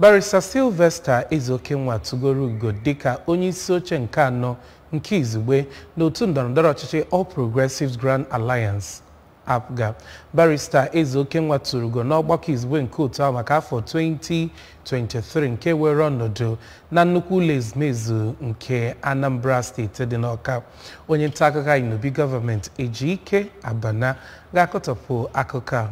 Barrister Sylvester Ezeokenwa tụgoro ugo dịka onye isi oche nke anọ nke izugbe n'otu ndọrọndọrọ ọchịchị All Progressives Grand Alliance APGA. Barrister Ezeokenwa tụrụ ugo n'ọgbakọ izugbe nke otu ahụ maka afọ 2023 nke were ọnọdụ na nnukwu ụlọ ezumezu nke Anambra steeti dị n'Ọka. Onye nta akụkọ anyị n'obi gọọmenti Ejike Abana ga-akọtọpụ akụkọ a.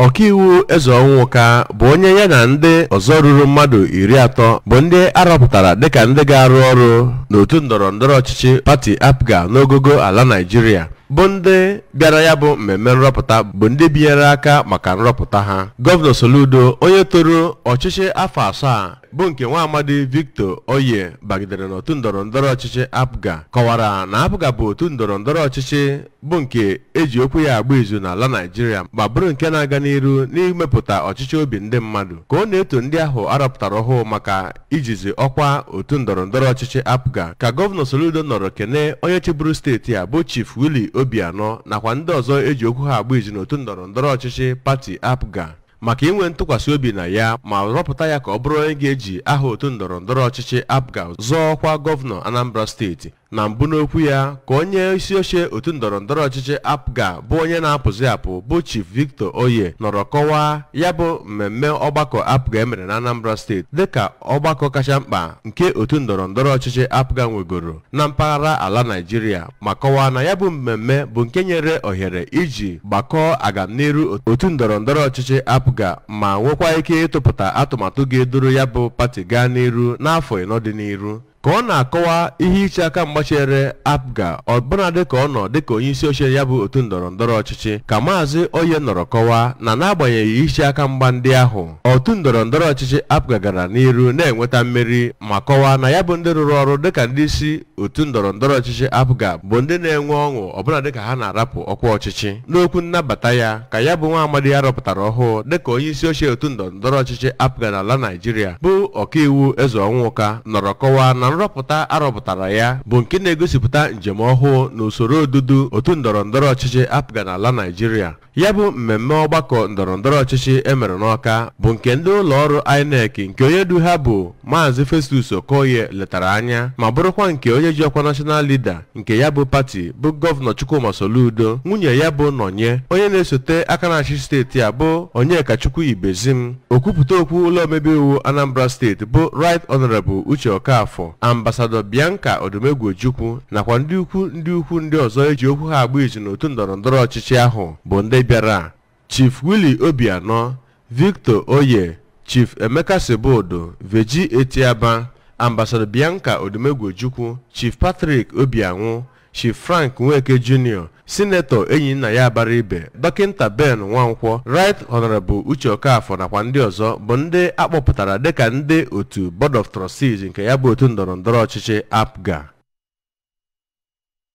ọkaiwu ezeọnwụka bụ onye ya na ndị ọzọ ruru mmadụ iri atọ bụ ndị arọpụtara dịka ndị ga-arụ ọrụ n'otu ndọrọ ndọrọ ọchịchị pati apga n'ogogo ala naijiria bụ ndị bịara ya bụ mmemme nrọpụta bụ ndị binyere aka maka nrọpụta ha gọvanọ soludo onye toro ọchịchị afọ asaa bụ nke nwa amadi victor oye bagidere n'otu ndọrọ ndọrọ ọchịchị apga kọwara na apga bụ otu ndọrọ ndọrọ ọchịchị bụ nke eji okwu ya agba izu n'ala Naịjirịa ma bụrụ nke na-aga n'iru n'imepụta ọchịchọ obi ndị mmadụ ka ọ na-eto ndị ahụ arọpụtara ọhụụ maka ijizi ọkwa otu ndọrọ ndọrọ ọchịchị APGA ka gọvanọ Soludo nọrọ kene onye chịburu steeti a bụ Chief Willie Obianọ nakwa ndị ọzọ eji okwu ha agba izu n'otu ndọrọ ndọrọ ọchịchị pati APGA maka inwe ntụkwasị obi na ya ma rọpụta ya ka ọ bụrụ onye ga-eji aha otu ndọrọ ndọrọ ọchịchị APGA zọọ ọkwa gọvanọ Anambra steeti na mbụ n'okwu ya ka onye isi oche otu ndọrọ ndọrọ ọchịchị apga bụ onye na-apụzi apụ bụ chief victor oye nọrọ kọwaa ya bụ mmemme ọgbakọ apga emere na anambra steeti dịka ọgbakọ kacha mkpa nke otu ndọrọ ndọrọ ọchịchị apga nwegoro na mpaghara ala naijiria ma kọwaa na ya bụ mmemme bụ nke nyere ohere iji gbakọọ agamniru otu ndọrọ ndọrọ ọchịchị apga ma nwekwa ike ịtụpụta atụmatụ ga-eduru ya bụ pati gaa n'iru n'afọ ịnọ dị n'iru ka ọ na-akọwa ihe iche aka mgba chere apga ọbụna dịka ọ nọ dịka onye isi oche ya bụ otu ndọrọ ndọrọ ọchịchị ka maazị oye nọrọ kọwaa na n'agbanyeghị iche aka mgba ndị ahụ otu ndọrọ ndọrọ ọchịchị apga gara n'iru na-enweta mmeri ma kọwaa na ya bụ ndị rụrụ ọrụ dịka ndị isi otu ndọrọ ndọrọ ọchịchị apga bụ ndị na-enwe ọṅụ ọbụna dịka ha na-arapụ ọkwa ọchịchị n'okwu nnabata ya ka ya bụ nwa amadi arọpụtara ọhụụ dịka onye isi oche otu ndọrọ ndọrọ ọchịchị apga n'ala naijiria bụ ọkaiwu ezeọnwụka nọrọ kọwaa na nrọpụta arọpụtara ya bụ nke na-egosipụta njem ọhụụ n'usoro odudu otu ndọrọ ndọrọ ọchịchị apga n'ala Naịjirịa ya bụ mmemme ọgbakọ ndọrọ ndọrọ ọchịchị emere n'Ọka bụ nke ndị ụlọ ọrụ INEC nke onye du ha bụ Maazị Festus Okoye letara anya ma bụrụkwa nke onye ji ọkwa National Leader nke ya bụ pati bụ gọvanọ Chukwuma Soludo nwunye ya bụ Nonye onye na-esote aka na-achị steeti a bụ Onyekachukwu Ibezim okwupụta okwu ụlọ omebe iwu Anambra steeti bụ Right Honorable Uche Okafor ambasadọ Bianca Odumegwu Ojukwu nakwa ndị ukwu ndị ukwu ndị ọzọ eji okwu ha agba izu n'otu ndọrọ ndọrọ ọchịchị ahụ bụ ndị bịara Chief Willie Obianọ, Victor Oye, Chief Emeka Sibeudu, Virgy Etiaba, Ambassador Bianca Odumegwu Ojukwu, Chief Patrick Obianwụ, Chief Frank Nweke Junior, Sinetọ Enyinnaya Abaribe, Dọkịnta Ben Nwankwọ, Right Honorable Uche Okafọ nakwa ndị ọzọ bụ ndị a kpọpụtara dịka ndị otu Board of Trustees nke ya bụ otu ndọrọndọrọ ọchịchị APGA.